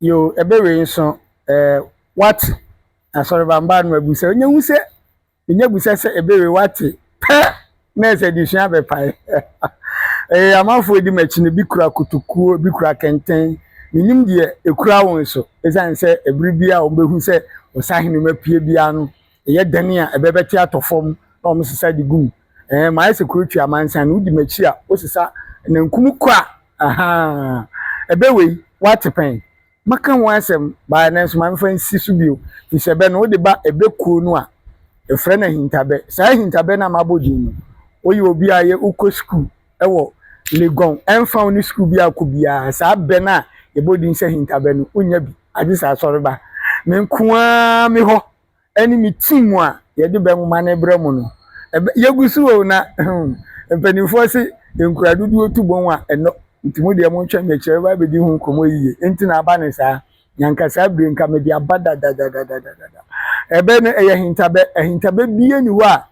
Yoo ɛbɛ wei nso ɛɛ what asɔrobambaa no abusɛ ɔnyɛ hu sɛ ɛnyɛ busɛ sɛ ɛbɛ wei what pɛ nɛɛs adesua bɛpae ɛyɛ amanfoɔ di m'akyi no bi kura kotokuo bi kura kɛntɛn menim deɛ ɛkura wo nso ɛsiane sɛ ɛbere bi a wɔn bɛhu sɛ ɔsahene mu apue biara no ɛyɛ dɛn a ɛbɛ bɛte atɔ fam na wɔn sesa de gu mu Ɛɛ mayɛ sɛ kuro twi amansan wodi m'akyi a wosesa nankum kwa ahaa ɛbɛ wei woate pɛn maka ho asɛm baa nanso ma mfa nsi so bio firi sɛ ɛbɛ no wode ba ɛbɛ kuo no a ɛfrɛ no ahintabɛ saa ahintabɛ no a mabɔ din no woyɛ obi a yɛ wokɔ sukuu ɛwɔ Legon ɛmfa wo ne sukuu bi akɔ biara saa bɛ no a yɛbɔ din sɛ ahintabɛ no wonya bi agye sɛ asɔreba me nko ara me hɔ ɛne me team a yɛde bɛ nwoma no brɛ mo no, ɛbɛ, yɛgu so o, na, hmm, mpanimfoɔ se nkura dodoɔ tu bɔn a ɛnɔ, nti mo deɛ montwɛn mekyerɛ bɛba abɛdi ho nkɔmmɔ yiye, nti na aba no saa, na anka saa bire nka mede aba dadadadadadada. Ɛbɛ no, ɛyɛ ahintabɛ, ahintabɛ biara nni hɔ a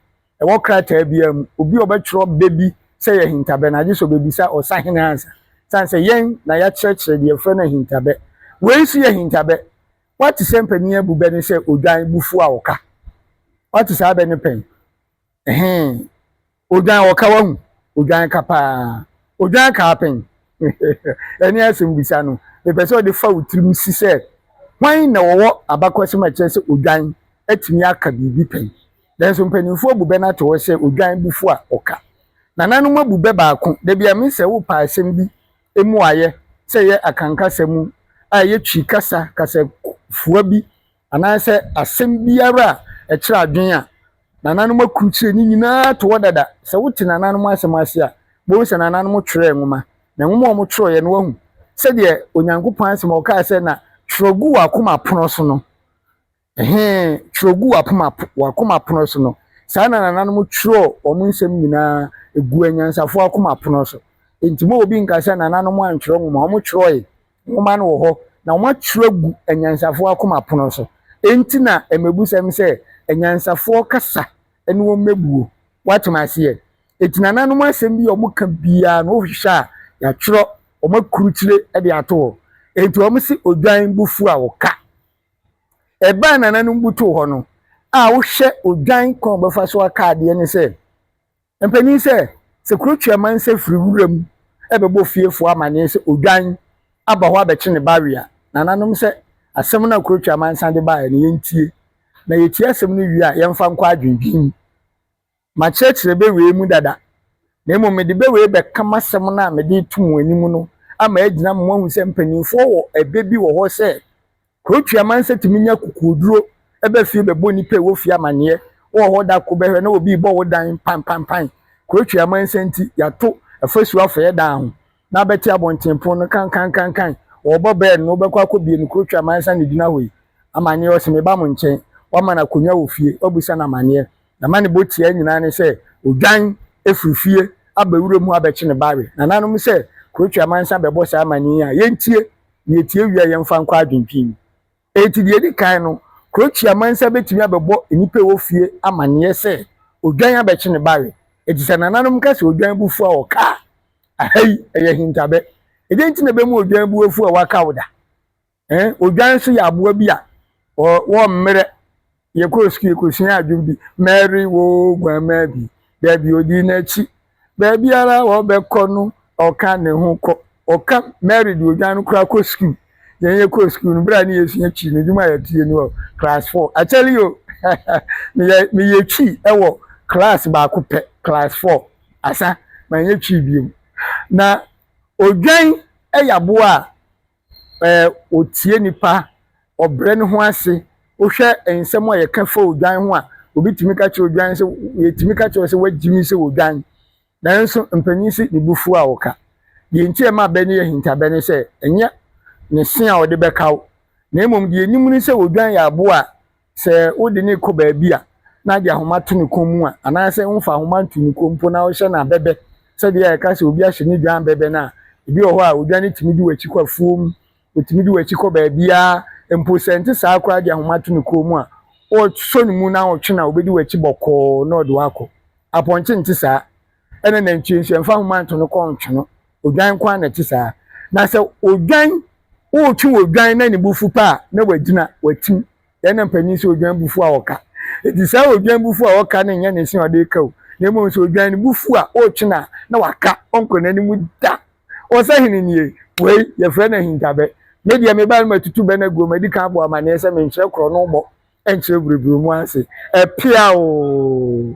ɛwɔ krataa biara mu, obi a ɔbɛtwerɛ bɛ bi sɛ ɛyɛ ahintabɛ no, agye sɛ ɔbɛbisa ɔsahene ansa, sane sɛ yɛn na yɛakyerɛkyerɛ deɛ yɛfrɛ no ahintabɛ, wei nso yɛ ahintabɛ, Woate sɛ mpanin abu bɛ no sɛ odwan bufuw a ɔka? Woate saa bɛ no pɛn? Ɛhee. Odwan ɔka wahu. Odwan ka paa. Odwan kaa pɛn? Ɛne asɛmmisa no. Mepɛ sɛ ɔde fa wo tirim si sɛ hwan na ɔwɔ abakɔsɛm a ɛkyerɛ sɛ odwan atumi aka biribi pɛn. Nanso mpanimfoɔ abu bɛ no ato hɔ sɛ odwan bufuw a ɔka. Nananom abu bɛ baako. Da bi a, Misael, wopɛ asɛm bi emu ayɛ sɛ ɛyɛ Akan kasa mu a ɛyɛ Twi kasa kasafua bi anaasɛ asɛm biara a ɛkyerɛ adwene a nananom akrukyire ne nyinaa to hɔ dada. Sɛ wote nananom asɛm ase a, wobɛhu sɛ nananom twerɛɛ nwoma, na nwoma a wɔtwerɛeɛ no, woahu sɛdeɛ Onyankopɔn asɛm a ɔkaa sɛ na twerɛ gu w'akoma pono so no, He twerɛ gu w'akoma pono so no, saa na nananom twerɛɔ wɔn nsɛm nyinaa gu anyansafoɔ akoma pono so. Enti ma obi nka sɛ nananom antwerɛ nwoma, wɔtwerɛɔe, nwoma no wɔ hɔ, na wɔatwerɛ agu anyansafoɔ akoma pono so. Enti na mmɛbusɛm sɛ, Anyansafoɔ kasa ne wɔn mmɛbuo. Woate m'aseɛ? Enti nananom asɛm bi a wɔka biara no wohwehwɛ a, yɛatwerɛ, wɔakrukyire de ato hɔ. Enti wɔse odwan bo fu a ɔka. Ɛbaa nananom butuw hɔ no a wohwɛ odwan kwan a wɔbɛfa so aka adeɛ ne sɛ, Mpanin sɛ, sɛ kuro tua mansa firi wuram bɛbɔ fiefoɔ amanneɛ sɛ odwan aba hɔ abɛkye ne ba we a, nananom sɛ, Asɛm no a kuro tua mansa de baeɛ no, yɛntie. Na yɛtie asɛm no wie a, yɛmfa nkɔ adwendwen mu. Makyerɛkyerɛ bɛ wei mu dada, na mmom mede bɛ wei bɛka m'asɛm no a mede reto mo anim no ama agyina ma moahu sɛ mpanimfoɔ wɔ ɛbɛ bi wɔ hɔ sɛ, Kuro Tweamansa tumi nya kukuoduro ba fie bɛbɔ nnipa a ɛwɔ fie amaneɛ, wowɔ hɔ da ko bɛhwɛ na obi rebɔ wo dan panpanpan, Kuro Tweamansa nti yɛato afasuo afɛeɛ daa ho, na abɛte abɔnten pon no kankankankan, wɔrebɔ bɛɛl no wobɛkɔ akɔbie no, Kuro Tweamansa na ɛgyina hɔ yi, amaneɛ, ɔse meba mo nkyɛn, woama no akonnwa wɔ fie, woabisa no amaneɛ. na ma ne bɔ tiaa nyinaa ne sɛ odwan firi fie aba wura mu abɛkye ne ba we. Nananom sɛ Croatia man san bɛbɔ saa amanneɛ yi a, yɛntie na yɛtie wie a yɛmfa nkɔ adwentwe mu. Enti deɛ ɛdi kan no, Croatia man san bɛtumi abɛbɔ nnipa a ɛwɔ fie amanneɛ sɛ odwan abɛkye ne ba we. Enti sɛ nananom ka sɛ odwan bo fu a wɔka a, aha yi, ɛyɛ ahintabɛ. Ɛdeɛ nti na ɛbɛma odwan bo afu a wakaw da? Ɛɛ odwan nso yɛ aboa bi a wɔ wɔ mmerɛ yɛkɔɔ sukuu yɛkɔsuaa adwom bi mɛre wo guammaa bi daabi ɔdi n'akyi baabiara a ɔbɛkɔ no ɔka ne ho kɔ ɔka mɛre de odwan no koraa kɔ sukuu yɛn yɛkɔɔ sukuu no berɛ a ne yɛsua twi no dwuma yɛteɛ ni wɔ class 4 akyɛle yo meyɛ meyɛ twi wɔ class baako pɛ class 4 asa manyɛ twi biom na odwan yɛ aboa a ɛɛ ɔtie nnipa, ɔbrɛ ne ho ase. Wohwɛ nsɛm a wɔka fa odwan ho a, obi tumi ka kyerɛ odwan sɛ, yɛtumi ka kyerɛ sɛ woagye me sɛ odwan. Nanso mpanyin se ne bo fuw a ɔka. Deɛ nti a ɛma abɛ no yɛ ahintabɛ ne sɛ, ɛnyɛ ne se a ɔde bɛkaw, na mmom deɛ yɛnim ne sɛ odwan yɛ aboa a sɛ wode no rekɔ baabi a na wode ahoma to ne kɔn mu a, anaasɛ womfa ahoma nto ne kɔn mu mpo na wohyɛ no abɛbɛ, sɛdeɛ yɛka sɛ obi ahyɛ ne dwan abɛbɛ no a, ebi wɔ hɔ a odwan tumi di w'akyi kɔ afuom, ɔtumi di w'akyi kɔ baabiara, mpo sɛ ɛnte saa koraa de ahoma to ne kɔn mu a, wosɔ ne mu na wotwe no a, ɔbɛdi w'akyi bɔkɔɔ na ɔde wo akɔ. Apɔnkye nte saa. ɛna nantwie nso yɛmfa ahoma nto no kɔn ntwe no odwan nko ara na ɛte saa na sɛ odwan wotwe odwan na ne bufu pa a na wagyina watim yɛn na mpanyin sɛ odwan bufu a ɔka eti saa odwan bufu a ɔka no nyɛ ne se ɔde ka o na mmom sɛ odwan ne bufu a ɔretwe no a na waka ɔnkɔ n'anim da ɔsɛ hene nie wei yɛfrɛ no ahintabɛ me deɛ me ba no matutu bɛ no aguo madi kan abɔ amanneɛ sɛ menkyerɛ korɔ no bɔ ɛnkyerɛ buruburu mu ase ɛpea o